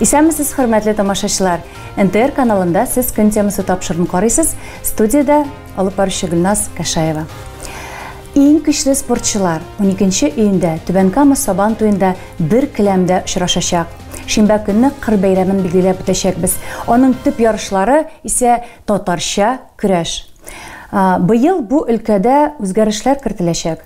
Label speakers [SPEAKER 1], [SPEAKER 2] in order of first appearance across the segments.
[SPEAKER 1] Исәнмесез, хөрмәтле тамашачылар! НТР каналында сез көн темасы тапшырын карыйсыз. Студиядә алып баручы Гөлназ Кәшаева. Иң көчле спортчылар 12 июньдә Түбән Кама Сабан туенда бер келәмдә очрашачак. Шимбә көнне кыр бәйрәмен билгеләп үтәчәкбез. Аның төп ярышлары исә татарча көрәш. Быел бу өлкәдә үзгәрешләр кертеләчәк.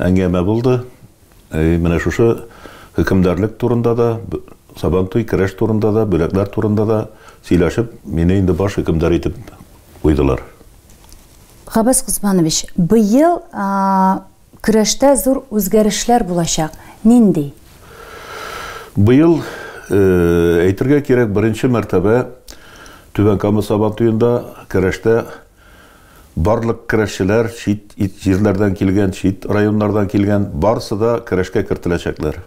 [SPEAKER 2] Әңгәмә булды. И менә шушы хөкемдарлек турында да, Сабантуй керәш турында да, бүләкләр турында да сөйләшеп, мине инде баш хөкемдар итеп куйдылар.
[SPEAKER 1] Габбас Госманович, быел көрәштә зур үзгәрешләр булачак. Нинди?
[SPEAKER 2] Быел, әйтергә кирәк, беренче мәртәбә Түбән Кама Сабантуенда көрәштә Барлык көрәшчеләр, чит ит җирләрдән килгән, чит районнардан килгән, барысы да көрәшкә кертеләчәкләр.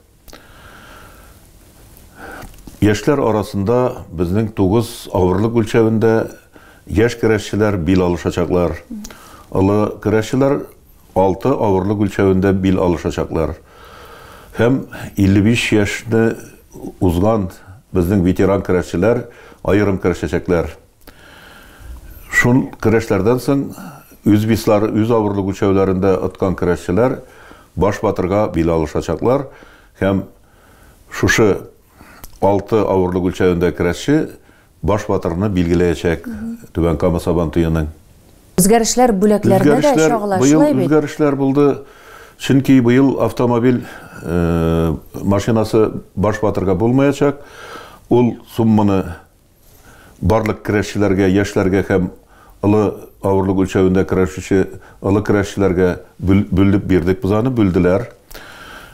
[SPEAKER 2] Яшьләр арасында безнең тугыз авырлык үлчәвендә яшь көрәшчеләр бил алышачаклар. Олы көрәшчеләр алты авырлык үлчәвендә бил алышачаклар. Һәм 55 яшьне узган безнең ветеран көрәшчеләр аерым көрәшәчәкләр. Шул көрәшләрдән соң үзбислар үз авырлык үлчәүләрендә откан көрәшчеләр баш батырга бил алышачаклар һәм шушы алты авырлык үлчәвендә көрәшче баш батырны билгеләячәк Түбән Кама Сабантуеның. Үзгәрешләр
[SPEAKER 1] бүләкләрдә дә чагыла, шулай бит? Быел үзгәрешләр булды,
[SPEAKER 2] чөнки быел автомобиль машинасы баш батырга булмаячак, ул сумманы Барлык керәшчеләргә, яшьләргә һәм олы авырлык үлчәвендә көрәшүче олы керәшчеләргә бүлеп бирдек без аны, бүлделәр.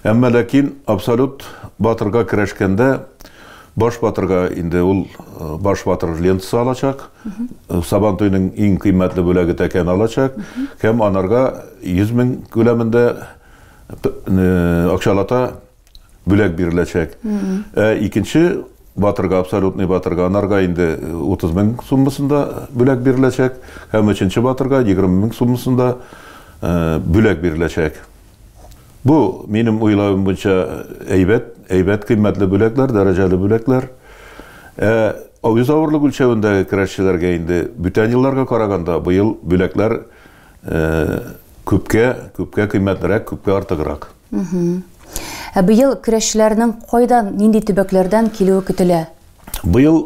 [SPEAKER 2] Әмма ләкин абсолют батырга керәшкәндә баш батырга инде ул э, баш батыр лентасы алачак, э, сабан туйның иң кыйммәтле бүләге тәкәне алачак һәм анарга 100 мең күләмендә э, акчалата бүләк биреләчәк. Ә икенче батырга, абсолютный батырга, анарга инде 30 мең суммасында бүләк биреләчәк. Һәм өченче батырга 20 мең суммасында бүләк биреләчәк. Бу, минем уйлавым буенча, әйбәт, әйбәт кыйммәтле бүләкләр, дәрәҗәле бүләкләр. Ә авыз авырлык үлчәвендәге көрәшчеләргә инде бүтән елларга караганда быел бүләкләр Күпкә, күпкә кыйммәтлерәк, күпкә артыграк.
[SPEAKER 1] Ә быел көрәшчеләрнең кайдан, нинди төбәкләрдән килүе көтелә? Быел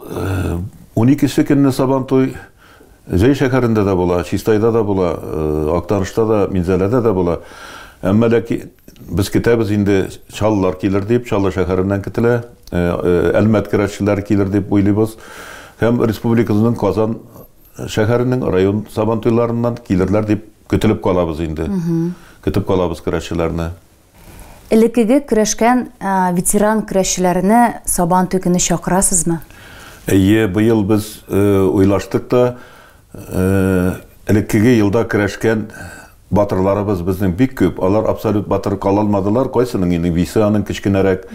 [SPEAKER 2] 12 көнне Сабантуй Зәй шәһәрендә дә була, Чистайда да була, Актанышта да, Минзәләдә дә була. Әмма ләки без көтәбез инде чаллылар килер дип, Чаллы шәһәреннән көтелә, Әлмәт көрәшчеләре килер дип уйлыйбыз. Һәм республикабызның Казан Шәһәрнең район сабантуйларыннан килерләр дип көтелеп калабыз инде. Көтеп калабыз көрәшчеләрне.
[SPEAKER 1] Элеккеге көрәшкән ветеран көрәшчеләрне сабантуй көне чакырасызмы? Әйе,
[SPEAKER 2] быел без уйлаштык та, элеккеге елда көрәшкән Батырларыбыз безнең бик күп, алар абсолют батыр кала алмадылар, кайсының инде весе аның кечкенәрәк,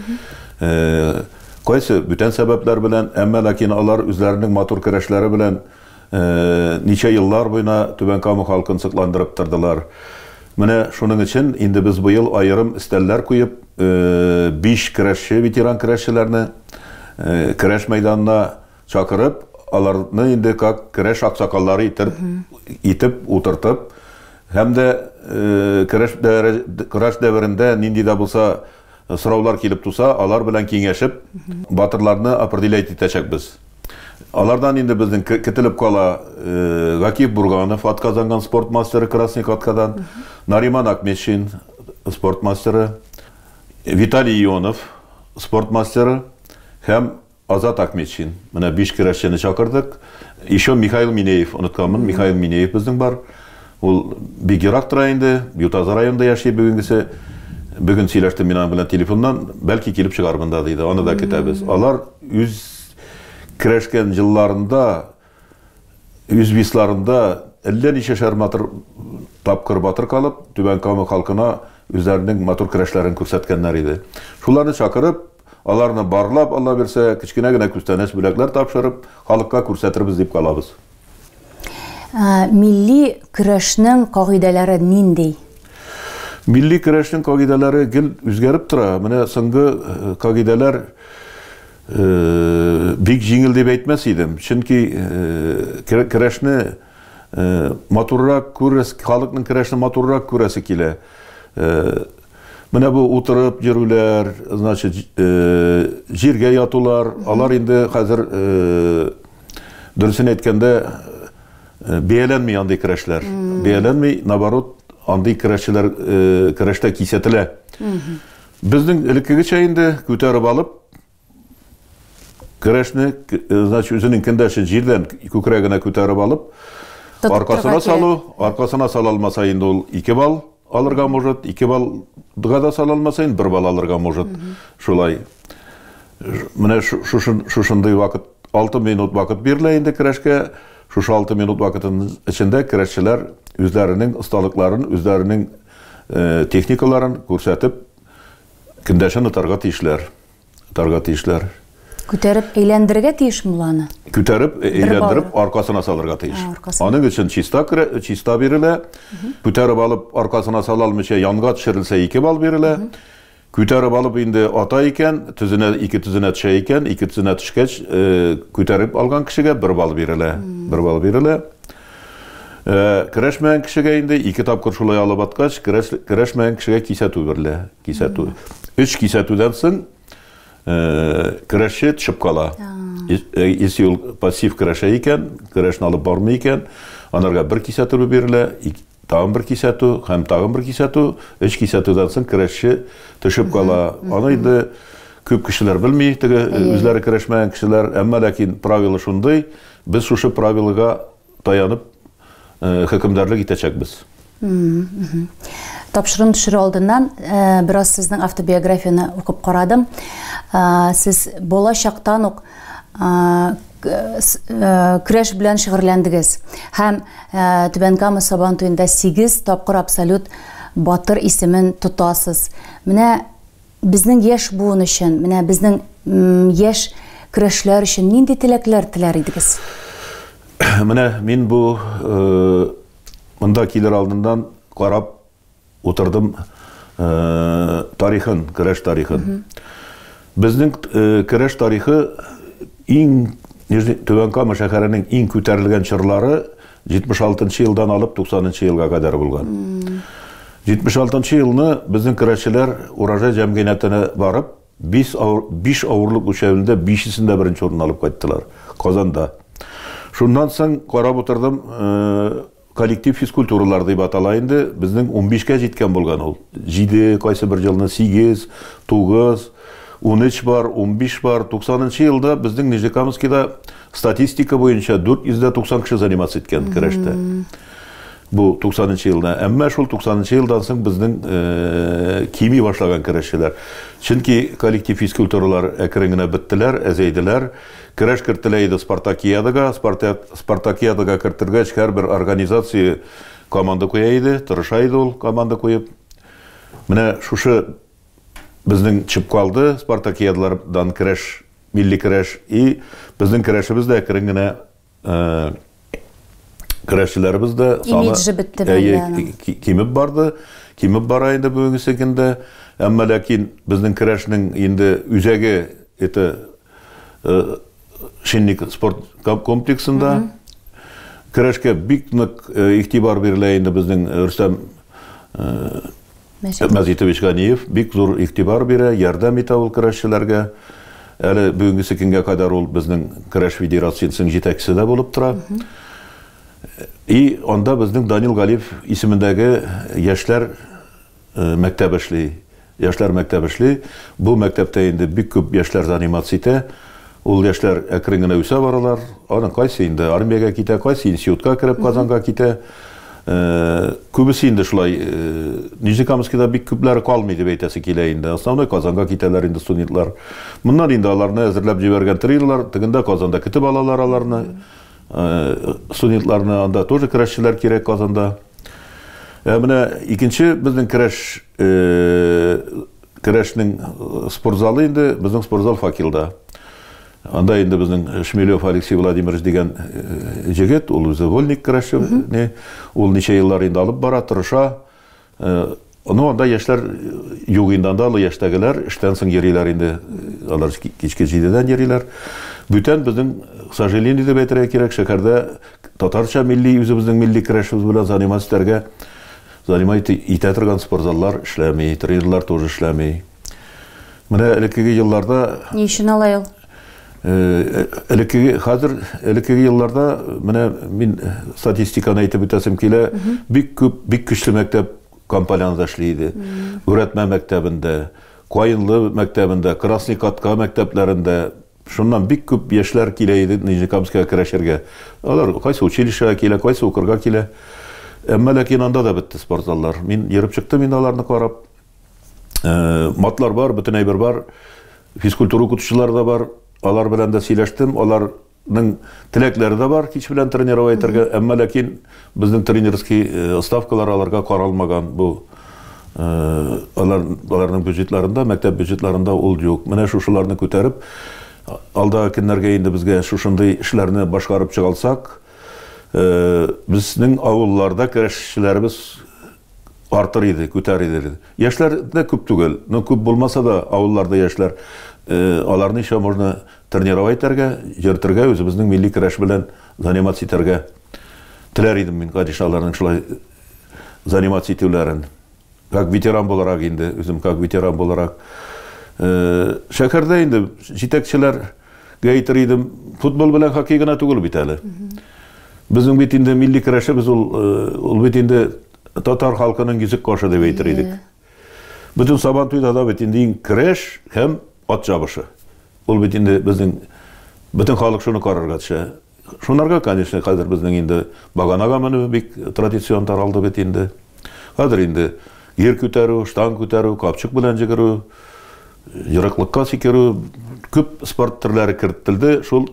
[SPEAKER 2] кайсы бүтән сәбәпләр белән, әмма ләкин алар үзләренең матур көрәшләре белән ничә еллар буена Түбән Кама халкын сокландырып тордылар. Менә шуның өчен инде без быел аерым өстәлләр куеп, биш көрәшче, ветеран көрәшчеләрне көрәш мәйданына Чакырып, аларны инде как керәш аксакаллары итеп, итеп утыртып, һәм дә э, керәш, керәш дәверендә нинди дә булса э, сораулар килеп туса, алар белән киңәшеп, батырларны определять итәчәкбез. Алардан инде безнең кителеп кала э, Гакиев Бурганов, атказанган спорт мастеры Красник аткадан, Нариман Акмешин, спорт мастеры, Виталий Ионов, спорт мастеры, һәм Азат Акметшин. Менә биш керәшчене чакырдык. Еще Михаил Минеев, онытканмын, Михаил Минеев безнең бар. Ул бик ерак тора инде, Ютазы районында яши бүгенгесе. Бүген сөйләштем мин аның белән телефоннан, бәлки килеп чыгармын да, диде. Аны да көтәбез. Алар үз керәшкән елларында Үз бисларында әллә ничәшәр матур тапкыр батыр калып, Түбән Кама халкына үзләренең матур көрәшләрен күрсәткәннәр иде. Шуларны чакырып, аларны барлап, Алла бирсә, кечкенә генә күстәнәч бүләкләр тапшырып, халыкка күрсәтербез дип калабыз. Милли
[SPEAKER 1] көрәшнең кагыйдәләре нинди?
[SPEAKER 2] Милли көрәшнең кагыйдәләре гел үзгәреп тора. Менә соңгы кагыйдәләр Бик җиңел дип әйтмәс идем, чөнки көрәшне матуррак күрәс, халыкның көрәшне матуррак күрәсе килә. Менә бу утырып йөрүләр, значит, җиргә ятулар, алар инде хәзер, дөресен әйткәндә, бәяләнми андый көрәшләр. Бәяләнми, наоборот, андый көрәшчеләр көрәштә кисәтелә. Безнең элеккегечә инде күтәреп алып, көрәшне, значит, үзенең кендәшен җирдән күкрәгенә күтәреп алып, аркасына салу, аркасына сала алмаса инде ул 2 балл алырга может, 2 баллга да сала алмаса инде 1 балл алырга может. Шулай. Менә шушындый вакыт, 6 минут вакыт бирелә инде көрәшкә. Шушы 6 минут вакытының эчендә көрәшчеләр үзләренең осталыкларын, үзләренең техникаларын күрсәтеп, көндәшен отарга тиешләр. Отарга тиешләр.
[SPEAKER 1] Күтәреп әйләндерергә тиеш муланы. Күтәреп
[SPEAKER 2] әйләндереп аркасына салырга тиеш. Аның өчен чиста керә, чиста бирелә. Күтәреп алып аркасына сала алмыйча янга төшерелсә 2 балл бирелә. Күтәреп алып инде ата икән, төзенә, ике төзенә төшә икән, ике төзенә төшкәч, күтәреп алган кешегә бер бал бирелә. Бер бал бирелә. Керәшмәгән кешегә инде ике тапкыр шулай алып аткач, керәшмәгән кешегә кисәтү бирелә. Кисәтү. Өч кисәтүдән соң керәшче төшеп кала. Если ул пассив керәшә икән, керәшне алып бармый икән, анарга бер кисәтү бирелә, Тагын бер кисәтү һәм тагын бер кисәтү. Өч кисәтүдән соң керәшче төшеп кала. Аны инде күп кешеләр белми, теге э, үзләре керәшмәгән кешеләр. Әмма ләкин правила шундый, без шушы правилага таянып э, хөкемдарлык итәчәкбез.
[SPEAKER 1] Тапшырым төшерү алдыннан э, бераз сезнең автобиографияне укып карадым. Э, сез бала чактан ук э, көрәш белән шөгырьләндегез һәм Түбән Кама Сабан туенда 8 тапкыр абсолют батыр исемен тотасыз. Менә безнең яшь буын өчен, менә безнең яшь көрәшләр өчен нинди теләкләр теләр идегез?
[SPEAKER 2] Менә мин бу монда килер алдыннан карап Утырдым тарихын, көрәш тарихын. Безнең көрәш тарихы иң Түбән Кама шәһәренең иң күтәрелгән чорлары 76 елдан алып 90 елга кадәр булган. 76 елны безнең көрәшчеләр урожай җәмгыятенә барып, 5 авыр, 5 авырлык үлчәвендә 5-сендә беренче урын алып кайттылар Казанда. Шуннан соң карап утырдым, Коллектив физкультуралар дип атала инде. Безнең унбишкә җиткән булган ул. Җиде, кайсы бер елны сигез, тугыз, унөч бар, унбиш бар. Туксанынчы елда безнең Нижнекамскида статистика буенча дүрт йөз дә туксан кеше заниматься иткән көрәштә. Бу туксанынчы елда. Әмма шул туксанынчы елдан соң безнең кими башлаган көрәшчеләр. Чөнки коллектив физкультуралар әкрен генә беттеләр, әзәйделәр. Көрәш кертелә иде спартакиадага. Спартакиадага кертергәч, һәрбер организация команда куя иде, тырыша иде ул команда куеп. Менә шушы безнең чып калды, спартакиадалардан көрәш, милли көрәш. И безнең көрәшебез дә әкрен генә Көрәшчеләребез дә саны кимеп барды, кимеп бара инде бүгенге көндә. Әмма ләкин безнең көрәшнең инде үзәге это Шинник спорт комплексында көрәшкә бик нык игътибар бирелә инде безнең Рөстәм Мәҗит. Мәҗитович Ганиев бик зур игътибар бирә, ярдәм итә ул көрәшчеләргә. Әле бүгенгесе көнгә кадәр ул безнең Көрәш федерациясенең җитәкчесе дә булып тора. И анда безнең Данил Галиев исемендәге яшьләр мәктәбе эшли. Яшьләр мәктәбе эшли. Бу мәктәптә инде бик күп яшьләр заниматься итә. Ул яшьләр әкрен генә үсә баралар. Аның кайсы инде армиягә китә, кайсы институтка кереп Казанга китә. Күбесе инде шулай Нижнекамскида бик күпләре калмый дип әйтәсе килә инде. Основной Казанга китәләр инде студентлар. Моннан инде аларны әзерләп җибәргән триллер, тегендә Казанда көтеп алалар аларны. Студентларны анда тоже көрәшчеләр кирәк Казанда. Ә менә икенче безнең көрәш Керәшнең спортзалы инде, безнең спортзал факелда. Анда инде безнең Шмелев Алексей Владимирович дигән җегет, ул үзе вольник керәшче, ул ничә еллар инде алып бара, тырыша. Ну, анда яшьләр юк инде, анда олы яшьтәгеләр эштән соң йөриләр инде, алар кичке җидедән йөриләр. Бүтән безнең, к сожалению дип әйтергә кирәк, шәһәрдә татарча милли, үзебезнең милли керәшебез белән заниматься итәргә Занимать итә торган спортзаллар эшләми, тренерлар тоже эшләми. Менә элеккеге елларда... Ни өчен алай ул?
[SPEAKER 1] элеккеге хәзер
[SPEAKER 2] элеккеге елларда менә мин статистиканы әйтеп үтәсем килә бик күп бик көчле мәктәп компанияләрдә эшли иде күрәтмә мәктәбендә каенлы мәктәбендә красный катка мәктәпләрендә Шуннан бик күп яшьләр килә иде Нижнекамскига керәшергә. Алар кайсы училищега килә, кайсы укырга килә. Әмма ләкин анда да бетте спортзаллар. Мин йөреп чыктым инде аларны карап. Э, матлар бар, бөтен әйбер бар. Физкультура укытучылары да бар. Алар белән дә сөйләштем. Алар теләкләре дә бар кич белән тренировать итәргә әмма ләкин Безнең тренерский ставкалар аларга каралмаган, бу алар аларның бюджетларында, мәктәп бюджетларында ул юк. Менә шушыларны күтәреп, алдагы көннәргә инде безгә шушындый эшләрне башкарып чыгалсак, безнең авылларда керәшчеләребез артыр иде, күтәр иде. Яшьләр дә күп түгел, но күп булмаса да, авылларда яшьләр, аларны еще можно тренировать итәргә, йөртергә, үзебезнең милли көрәш белән заниматься итәргә. Теләр идем мин, гадишә, аларның шулай заниматься итүләрен. Как ветеран буларак инде, үзем как ветеран буларак. Э, шәһәрдә инде җитәкчеләргә әйтер идем, футбол белән хоккей гына түгел бит әле. Безнең бит инде милли көрәшебез ул, э, ул бит инде татар халкының йөзек кашы дип әйтер идек. Бөтен Сабантуйда да бит инде иң керәш һәм ат чабышы. Ул бит инде безнең бөтен халык шуны карарга төшә. Шунарга, конечно, хәзер безнең инде баганага менү бик традицион таралды бит инде. Хәзер инде гер күтәрү, штанг күтәрү, капчык белән җигерү, ерыклыкка сикерү, күп спорт төрләре кертелде шул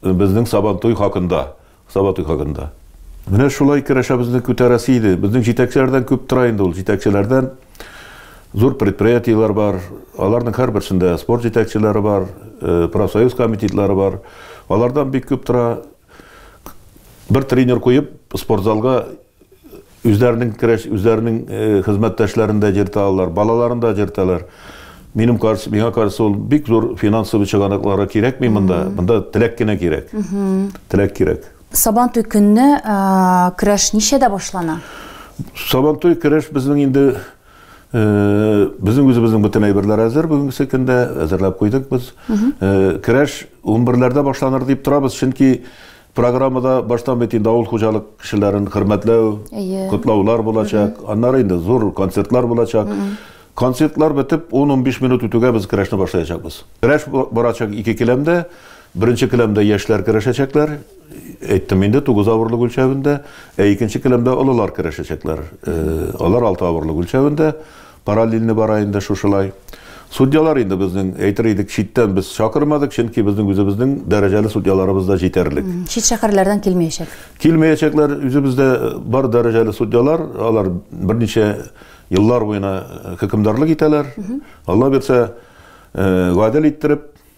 [SPEAKER 2] безнең Сабантуй хакында. Сабатый хакында. Менә шулай керәшәбезне күтәрәсе иде. Безнең җитәкчеләрдән күп тора инде ул. Җитәкчеләрдән зур предприятиеләр бар. Аларның һәрберсендә спорт җитәкчеләре бар, э, профсоюз комитетлары бар. Алардан бик күп тора. Бер тренер куеп, спортзалга Үзләренең керәш, үзләренең э, хезмәттәшләрен дә җерталар, балаларын да җерталар. Минем каршы, миңа каршы ул бик зур финансовый чыганаклары кирәкми монда. Монда теләк кенә кирәк. Теләк кирәк. Сабантуй көнне
[SPEAKER 1] ә, көрәш ничәдә башлана? Сабантуй
[SPEAKER 2] көрәш безнең инде э, безнең үзебезнең бөтен әйберләр әзер бүгенге көндә әзерләп куйдык без. Э, Көрәш 11-ләрдә башланыр дип торабыз, чөнки Программада баштан бит инде авыл хуҗалык кешеләрен хөрмәтләү, котлаулар булачак, аннары инде зур концертлар булачак. Концертлар бетеп, 10-15 минут үтүгә без көрәшне башлаячакбыз. Көрәш барачак ике келәмдә. Беренче келәмдә яшьләр көрәшәчәкләр, әйттем инде, тугыз авырлык үлчәвендә. Ә икенче келәмдә олылар көрәшәчәкләр. Алар алты авырлык үлчәвендә. Параллельно бара инде шушылай. Судьялар инде безнең, әйтер идек, читтән без чакырмадык, чөнки безнең үзебезнең дәрәҗәле судьяларыбыз да җитәрлек. Чит шәһәрләрдән
[SPEAKER 1] килмәячәк. Килмәячәкләр,
[SPEAKER 2] үзебездә бар дәрәҗәле судьялар, алар берничә еллар буена хөкемдарлык итәләр. Алла бирсә, гадел иттереп,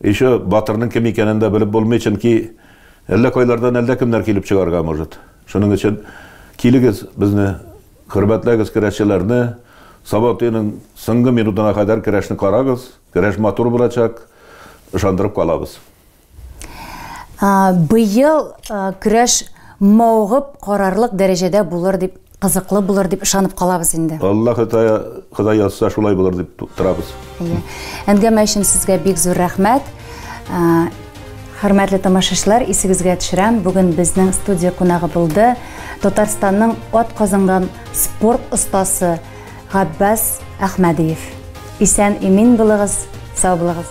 [SPEAKER 2] Еще батырның кем икәнен дә белеп булмый, чөнки әллә кайлардан әллә кемнәр килеп чыгарга может. Шуның өчен килегез безне хөрмәтләгез көрәшчеләрне, сабантуйның соңгы минутына кадәр көрәшне карагыз, көрәш матур булачак, ышандырып калабыз.
[SPEAKER 1] Быел көрәш мавыгып карарлык дәрәҗәдә булыр дип Кызыклы булыр дип ышанып калабыз инде. Алла Хытая,
[SPEAKER 2] Ходай язса, шулай булыр дип торабыз. Әйе. Әңгәмә
[SPEAKER 1] өчен сезгә бик зур рәхмәт. Ә, Хөрмәтле тамашачылар, исегезгә төшерәм, бүген безнең студия кунагы булды Татарстанның ат казынган спорт остасы Габбас Әхмәдиев. Исән имин булыгыз, сау булыгыз.